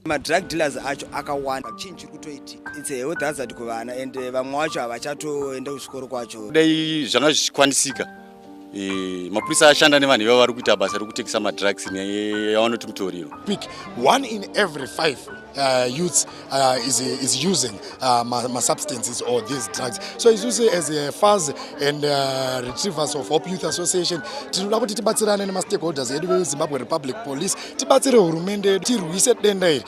madrug dealers acho akawanda chinyi chiri kutoitika its a health hazard kuvana and eh, vamwe wacho havachatoenda kuchikoro kwacho dai zvanga zvichikwanisika mapurisa ashanda nevanhu ivavo vari kuita basa rekutekesa madrugs yavanoti mutoriro pick one in every five uh, youths uh, is, is using uh, masubstances or these drugs so isusu as a faz and uh, retrievers of hope youth association tinoda kuti tibatsirane nemastakeholders edu vezimbabwe republic police tibatsire hurumende yedu tirwise denda iri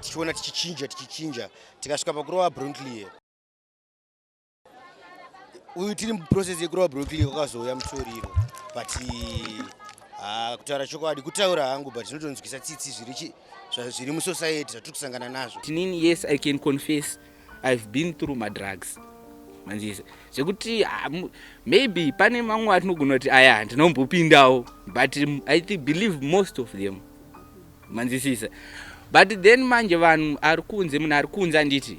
tichiona tichichinja tichichinja tikasvika pakurova bruntlier uyu tiri muprocess yekurova bruntlier kwakazouya mutoriro but ah, kutaura chokwadi kutaura hangu but zvinotonzwisa tsitsi zviri zviri musociety zvatiri kusangana nazvo tinini yes i can confess i've been through madrugs manzise zvekuti ah, maybe pane mamwe atinogona kuti aya ndinombopindawo but i think believe most of them manzisisa but then manje vanhu ari kunze munhu ari kunze anditi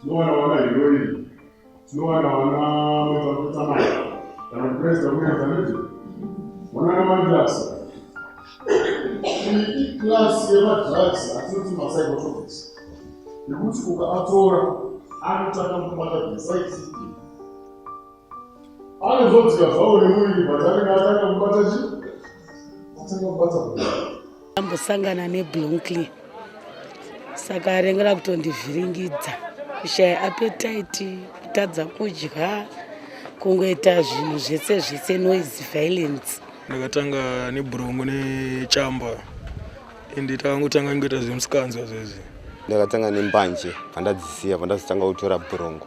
tinowana wana heroin tinowana wana mwetamai kana kuti president kuneanzaniti wanana madrugs iclass yemadrugs atinoti mapsychotropics nekuti ukaatora anotanga kubata beside anozodzika zvawo nemuviri but anenge atanga kubata chi atanga kubata ambosangana neblonkly saka arengera kutondivhiringidza kushaya apetaiti kutadza kudya kungoita zvinhu zvese zvese noise violence ndakatanga nebhurongo nechamba ende takangotanga ngoita zvemusikanzwa zvezi ndakatanga nembanje pandadzisiya pandazotanga kutora bhurongo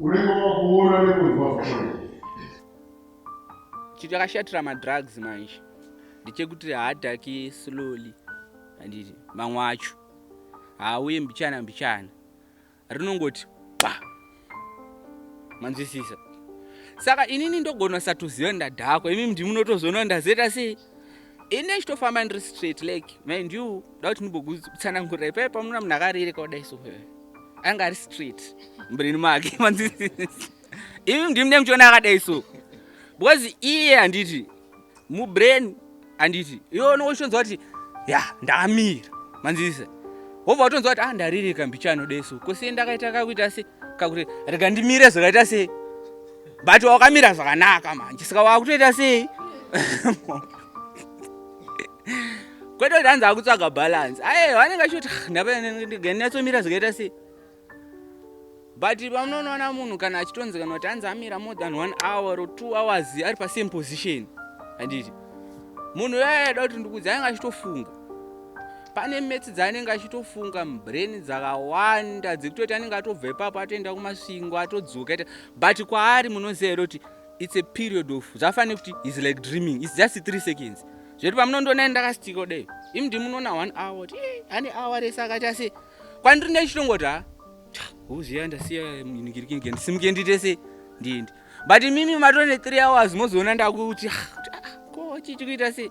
unenge wakuona nekunzwa zvakona chinhu chakashatira madrugs manje ndechekuti haadhaki slowly anditi mamwe acho haauye mbichana mbichana rinongoti pa manzwisisa saka inini ndogona satoziva ndadhakwa imi ndimunotozoona ndazoita sei ini ndechitofamba ndiri straight like mind you da kuti ndimbokutsanangurira ipaye pamuna munhu akarereka kudai so anga ari straight mbreni make ivi ndimi nemuchiona akadai so because iye handiti mubrain handiti iwe unongo chitonzwa kuti ya ndamira manzisa wobva watonzwa kuti a ah, ndaririka mbichano dai so kosiye ndakaita kakuita se kakuti rega ndimire zvakaita sei but wakamira zvakanaka manje saka wakutoita sei kwete kuti hanzi akutsvaga balance aye vanenge achiti ndapnyatsomira zvakaita sei but pamunonoona munhu kana achitonzi kana kuti hanzi amira more than one hour or two hours ari pasame position handiti munhu uyayaida kuti ndikudzi anenge achitofunga pane metsi dzaanenge achitofunga mubrain dzakawanda dzekutoti anenge atobva ipapo atoenda kumasvingo atodzoka but kwaari munoziva here kuti its a period of zvafane kuti is like dreaming its just three seconds zvekuti pamunondiona ndakastika kudai imi ndimunoona one hour kuti ane hour rese akaita se kwandiri ndechitongoti ha uziva ndasiya ningirikinge ndisimuke ndiite se ndiendi but imimi matone three hours mozoona ndakuti ko chichikuita sei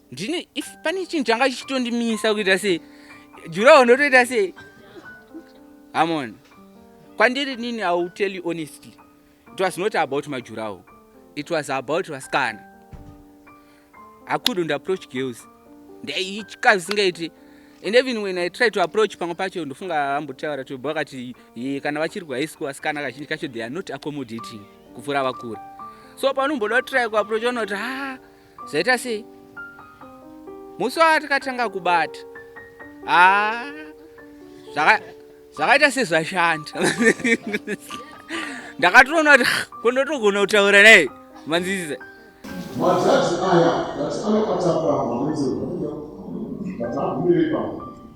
ndine if pane chinhu changa chichitondimisa kuita se jurawo ndotoita se amon kwandiri nini i will tell you honestly it was not about majurawo it was about vasikana i couldn't approach girls ndaitya zvisingaiti and even when i try to approach pamwe pacho ndofunga ambotaura to vakati kana vachiri kuhigh school vasikana kazhinji kacho they are not accommodating kupfuura vakura so paunomboda kutry kuapproach unoti haa Zvaita sei? Musi watakatanga kubata. Ah. Zvaka zvakaita sezvashanda. Ndakatoona kuti kundotogona kutaura naye. Manziza. Majaji aya ngati anobata pamwe. Ngati agumire pamwe.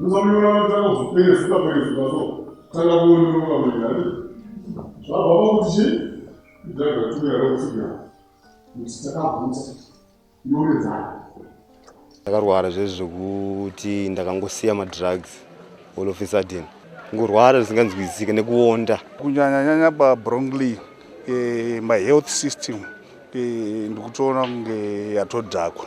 Musamira matanga zvipere zvikapere zvikaso tanga kuonera kamira ne. Zvabva pakuti chi kudhaga tumira rokusigira kuti takabvunza inoredzana. Ndakarwara zvezvi zvekuti ndakangosiya madrugs all of a sudden kungorwara zvisinganzwisisike nekuonda kunyanyanyanya pabrongly eh, my health system eh, ndikutoona kunge yatodhakwa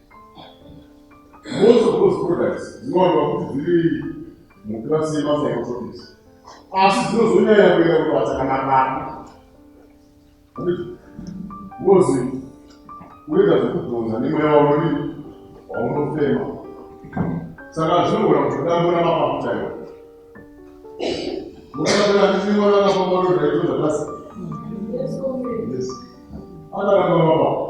Most of those products dzinowanikwa kuti dziri mukirasi yemapsychotropics asi dzinozonyanya kuenda kubasa kana mwana ngozi unoita zvekudhonza nemweya wauri waunofema saka zvinogona kutotambura mapapu chaiwo mukaaa ndiimwana akafamba ndozvaitodza basi akaramba mapapu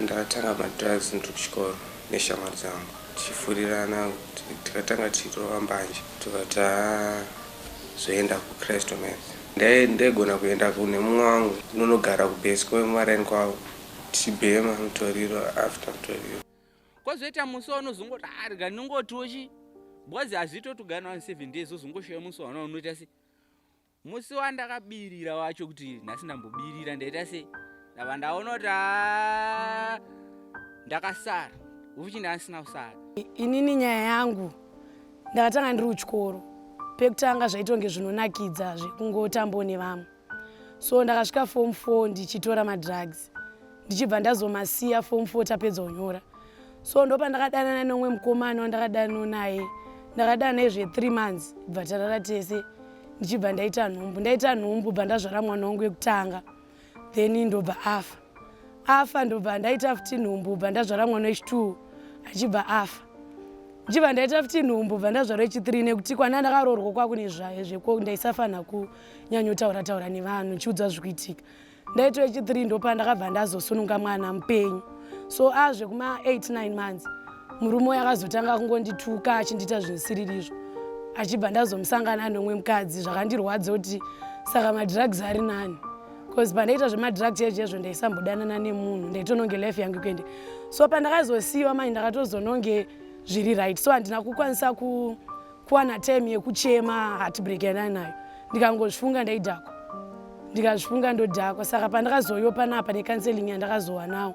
ndakatanga madrugs ndiri kuchikoro neshamwari dzangu tichifurirana tikatanga tichirova mbanje tikati haa zvoenda kuCresto Mass. Ndai ndaigona kuenda kune mumwe wangu ndonogara kubase kwemaraini kwavo tichibhema mutoriro after mutoriro. Kozoita musi waunozongoti ah rega ndingotiwo chii because hazviite kuti ugare navanhu seven days wozongoshaya musi waona unoita sei. Musi wandakabirira wacho kuti nhasi ndambobirira ndaita sei ndava ndaona kuti ah, ndakasara uchi ndandisina kusara inini nyaya yangu ndakatanga ndiri kuchikoro pekutanga zvaitonge zvinonakidza zvekungotambo nevamwe so ndakasvika fom four ndichitora madrugs ndichibva ndazomasiya fom four tapedza kunyora so ndopandakadanana nomwe mukomana wandakadano naye ndakadana naye zvethree months bva tarara tese ndichibva ndaita nhumbu ndaita nhumbu bva ndazvara mwana wangu wekutanga then ndobva afa afa ndobva ndaita futi nhumbu bva ndazvara mwana wechitwo achibva afa ndichibva ndaita futi nhumbu bva ndazvara wechithree nekuti kwana ndakaroorwa kwakune zvayo zveko ndaisafanira kunyanyotaura taura nevanhu ndichiudzwa zvikuitika ndaita wechithree ndopa ndakabva ndazosununga mwana mupenyu so azvekuma 89 months murume uyo akazotanga kungondituka achindiita zvinosiririzvo achibva ndazomusangana nomwe mukadzi zvakandirwadza kuti saka madrugs ari nani bcause pandaiita zvemadrugs ezvo ezvo ndaisambodanana nemunhu ndaitononge life yangu kuende so pandakazosiyiwa manje ndakatozononge zviri right so handina kukwanisa ku, kuwana time yekuchema heartbreak yandanayo ndikangozvifunga ndaidhakwa ndikazvifunga ndodhakwa saka pandakazoiwa panapa necounseling yandakazowanawo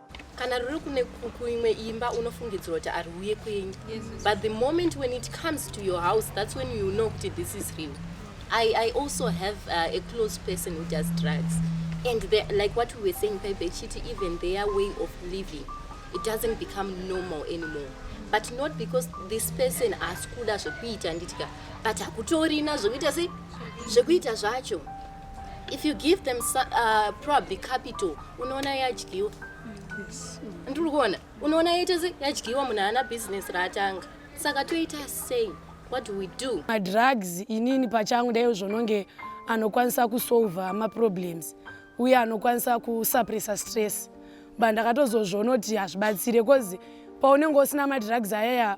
kana ruri kune kuimwe imba unofungidzira kuti ari uye kwenyu but the moment when it comes to your house that's when you know kuti this is real I, I also have uh, a close person who does drugs. And they, like what we were saying, Pepe Chiti, even their way of living, it doesn't become normal anymore. But not because this person has kuda zvekuita nditika, but hakutorina zvekuita sei zvekuita zvacho. if you give them uh, probably capital unoona yadyiwa ndiri kuona unoona yaita se yadyiwa munhu haana business raatanga saka toita sei what do we do madrugs inini pachangu ndaiyo zvononge anokwanisa kusolva maproblems uye anokwanisa kusuppressa stress but ndakatozozvonoti hazvibatsire bcause paunenge usina madrugs ayaya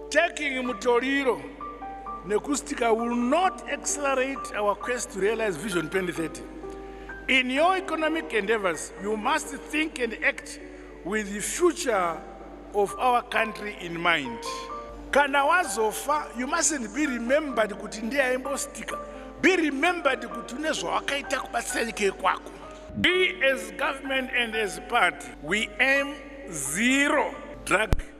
Taking mutoriro nekustika will not accelerate our quest to realize vision 2030. In your economic endeavors, you must think and act with the future of our country in mind. Kana wazofa, you mustn't be remembered kuti ndiye aimbostika. Be remembered kuti une zvawakaita kubatsira nyika yekwako. We as government and as party, we aim zero drug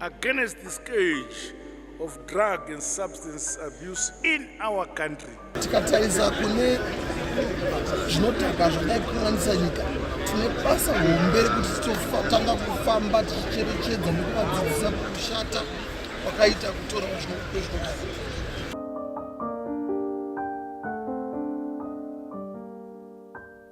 against the scourge of drug and substance abuse in our country. Tikatarisa kune zvinotaka zvadai kukanganisa nyika tine basa hombe rekuti titotanga kufamba tichicherechedza nekuvadzidzisa kushata kwakaita kutora zvinokudai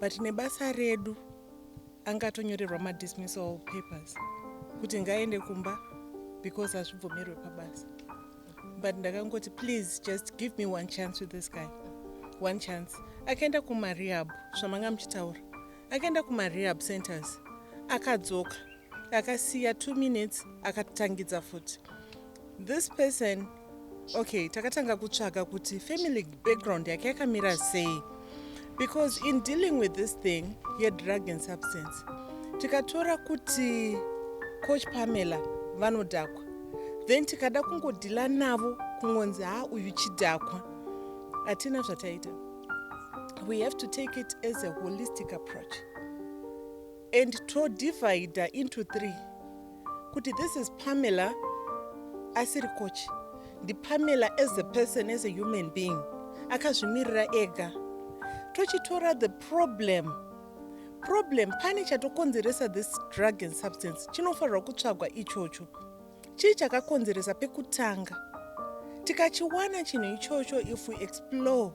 but nebasa redu anga atonyorerwa madismissal papers kuti ngaaende kumba because hazvibvumirwe pabasa but ndakangoti please just give me one chance with this guy one chance akaenda kumarehab zvamanga muchitaura akaenda kumarehab centers akadzoka akasiya two minutes akatangidza futi This person okay takatanga kutsvaga kuti family background yake yakamira sei because in dealing with this thing yedrug and substance tikatora kuti coach pamela vanodhakwa then tikada kungodhila navo kungonzi ha uyu chidhakwa hatina zvataita we have to take it as a holistic approach and todivider into three kuti this is pamela asiri coach ndipamela as a person as a human being akazvimirira ega tochitora the problem problem pane chatokonzeresa this drug and substance chinofanirwa kutsvagwa ichocho Chii chakakonzeresa pekutanga? Tikachiwana chinhu ichocho if we explore,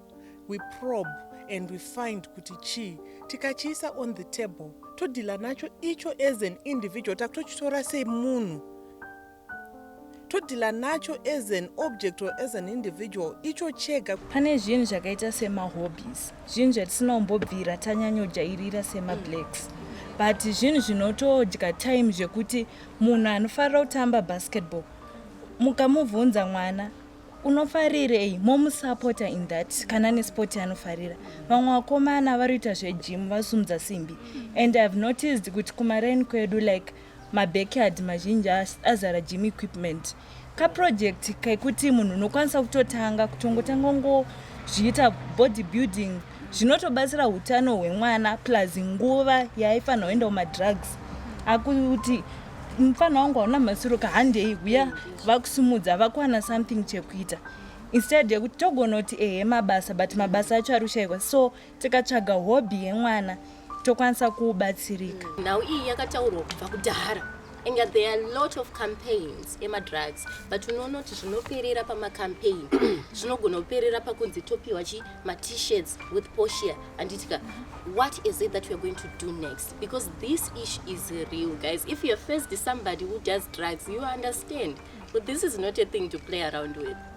we probe and we find kuti chii, tikachiisa on the table, todhila nacho icho as an individual, takutochitora semunhu todhila nacho as an object or as an individual icho chega. Pane zvinhu zvakaita semahobbies, zvinhu zvatisinombobvira tanyanyojairira semablacks but zvinhu zvinotodya time zvekuti Munhu anofarira kutamba basketball mukamubvunza mwana unofarirei momusapota in that kana nesport anofarira vamwe vakomana varoita zvegym vasumudza simbi and ihave noticed kuti kumaraini kwedu like mabackyard mazhinji azara gym equipment kaproject kekuti munhu unokwanisa kutotanga kutongotanga ungozviita body building zvinotobatsira utano hwemwana plus nguva yaaifanira kuenda kumadrugs akuti mufana wangu hauna masiro ka handei huya vakusimudza vakuwana something chekuita instead yekuti togona kuti ehe mabasa but mabasa acho ari kushayikwa so tikatsvaga hobby yemwana tokwanisa kuubatsirika nhau iyi yakataurwa kubva kudhara inga there are lot of campaigns emadrugs but unoona kuti zvinoperera pamacampaign zvinogona kuperera pakunzi topiwa chi matishirts with poshia anditika what is it that weare going to do next because this issue is real guys if youare first somebody who does drugs you understand but this is not a thing to play around with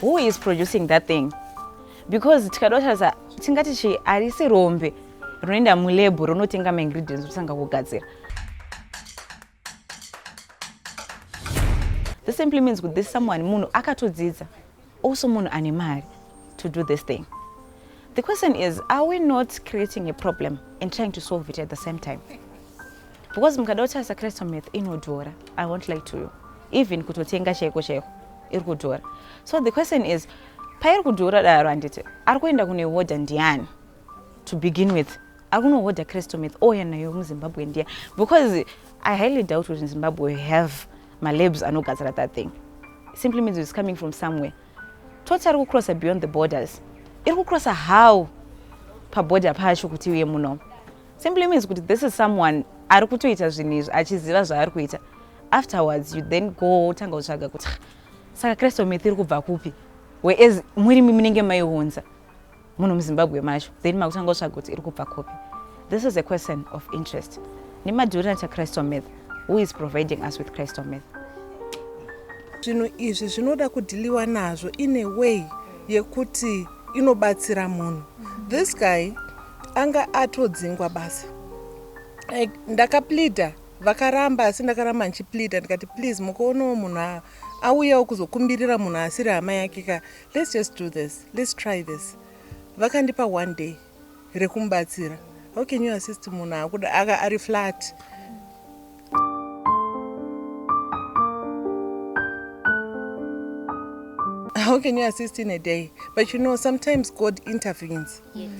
who is producing that thing because tikada kutarisa tingati chi harisi rombe rinoenda mulebho ronotenga maingredients otanga kugadzira this simply means kuti this someone munhu akatodzidza also munhu ane mari to do this thing the question is are we not creating a problem and trying to solve it at the same time because mukada kutarisa crystal meth inodhora i won't lie to you even kutotenga chaiko chaiko iri kudhora so the question is pairi kudhora daro handiti ari kuenda kunoihodha ndiani to begin with ari kunohodha crystal meth ouya nayo muzimbabwe ndiya because i highly doubt kuti zimbabwe have malabs anogadzira that thing simply means it's coming from somewhere toti ari kucrossa beyond the borders iri kucrossa how paborder pacho kuti uye munomo simply means kuti this is someone ari kutoita zvinhu izvi achiziva zvaari kuita afterwards you then go wotanga kutsvaga kuti saka kristu myth iri kubva kupi whereas murimi munenge maiunza munhu muzimbabwe macho then makutanga kutsvaga kuti iri kubva kupi this is a question of interest nemadurina chakristu myth who is providing us with kristu myth zvinhu izvi zvinoda kudhiliwa nazvo in a way yekuti inobatsira munhu this guy Anga atodzingwa basa. Like ndakapleader vakaramba asi ndakaramba ndichipleader ndikati please mukoonawo munhu auyawo kuzokumbirira munhu asiri hama yake ka let's just do this let's try this vakandipa one day rekumubatsira how can you assist munhu akuda aka ari flat how can you assist in a day but you know sometimes god intervenes yes,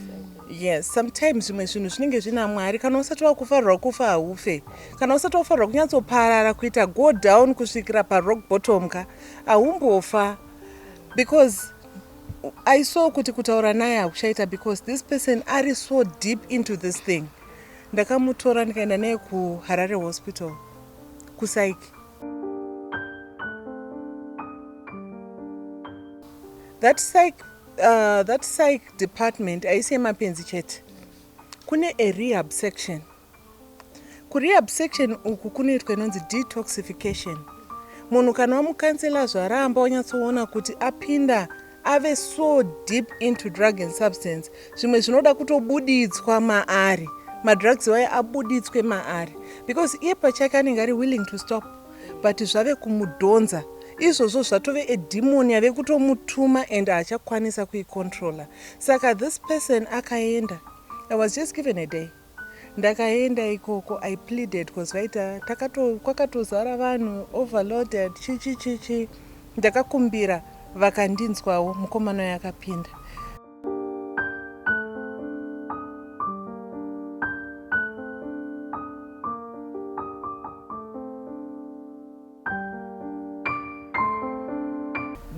yes sometimes zvimwe zvinhu zvinenge zvina mwari kana usati wakufarirwa kufa haufe kana usati wakufarirwa kunyatsoparara kuita go down kusvikira parock bottom ka haumbofa because i saw kuti kutaura naye hakuchaita because this person ari so deep into this thing Ndakamutora ndikaenda naye kuHarare Hospital kuSaiki. That psych, uh, that psych department aisi yemapenzi chete. Kune a rehab section. Kurehab section uku kunoitwa inonzi detoxification. Munhu kana wamukansela zvaramba wanyatsoona kuti apinda ave so deep into drug and substance zvimwe zvinoda kutobuditswa maari madrugs waye abuditswe maari because iye pachake anenge ari willing to stop but zvave kumudhonza izvozvo zvatove edhimoni yave kutomutuma and haachakwanisa kuicontroller saka this person akaenda i was just given a day Ndakaenda ikoko I pleaded cause vaita takato kwakatozara vanhu overloaded chichi chichi ndakakumbira vakandinzwawo mukomana uyo akapinda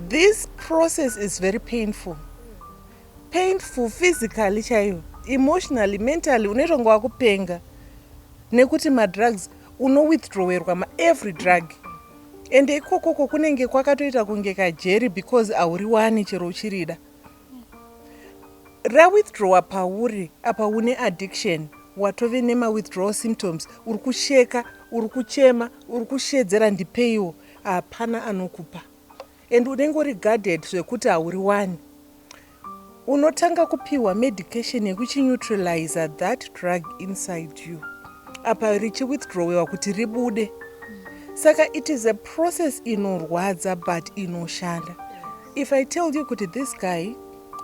This process is very painful Painful physically chaiyo, emotionally, mentally unoita kunge wakupenga nekuti madrugs uno withdrawerwa maevry drug and ikokoko kunenge kwakatoita kunge kajeri because hauri wani chero uchirida rawithdrawer pauri apa une addiction watove nemawithdrawal symptoms uri kusheka uri kuchema uri kushedzera ndipeiwo hapana anokupa and unenge uri guarded zvekuti hauriwani unotanga kupihwa medication yekuchineutraliza that drug inside you apa richiwithdrawewa kuti ribude saka it is a process inorwadza but inoshanda if i tell you kuti this guy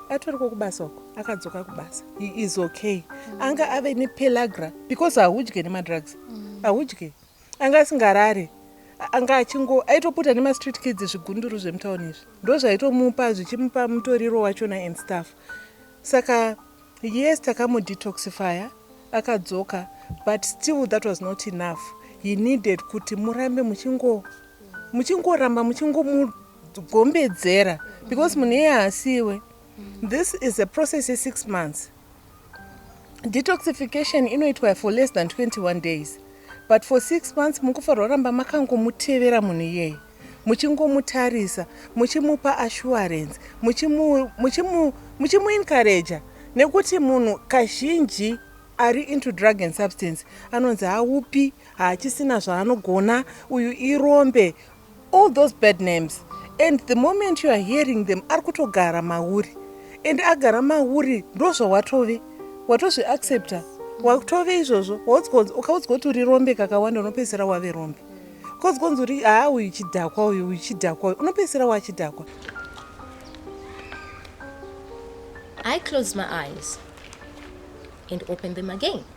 atoriko kubasa uko akadzoka kubasa he is okay anga ave nepelagra because haudye nemadrugs haudye mm. anga asingarare anga achingo aitoputa nemastreet kids zvigunduru zvemutown izvi ndo zvaitomupa zvichimupa mutoriro wachona and staff saka yes takamudetoxifya akadzoka but still that was not enough he needed kuti murambe muchingo muchingoramba muchingomugombedzera because munhu iye haasiwe this is a process ye six months Detoxification inoitwa for less than 21 days but for six months mukufanira kuramba makangomutevera munhu iyeye muchingomutarisa muchimupa assurance muchimuencouraja nekuti munhu kazhinji ari into drug and substance anonzi haupi haachisina zvaanogona uyu irombe All those bad names and the moment you are hearing them ari kutogara mauri and agara mauri ndozvawatove watozvi accepta watove izvozvo ukaudzwa kuti uri rombe kakawanda unopedzisira wave rombe bcause konzi uri haa uyu chidhakwa uyu uyu chidhakwa uyu unopedzisira wachidhakwa I closed my eyes and opened them again.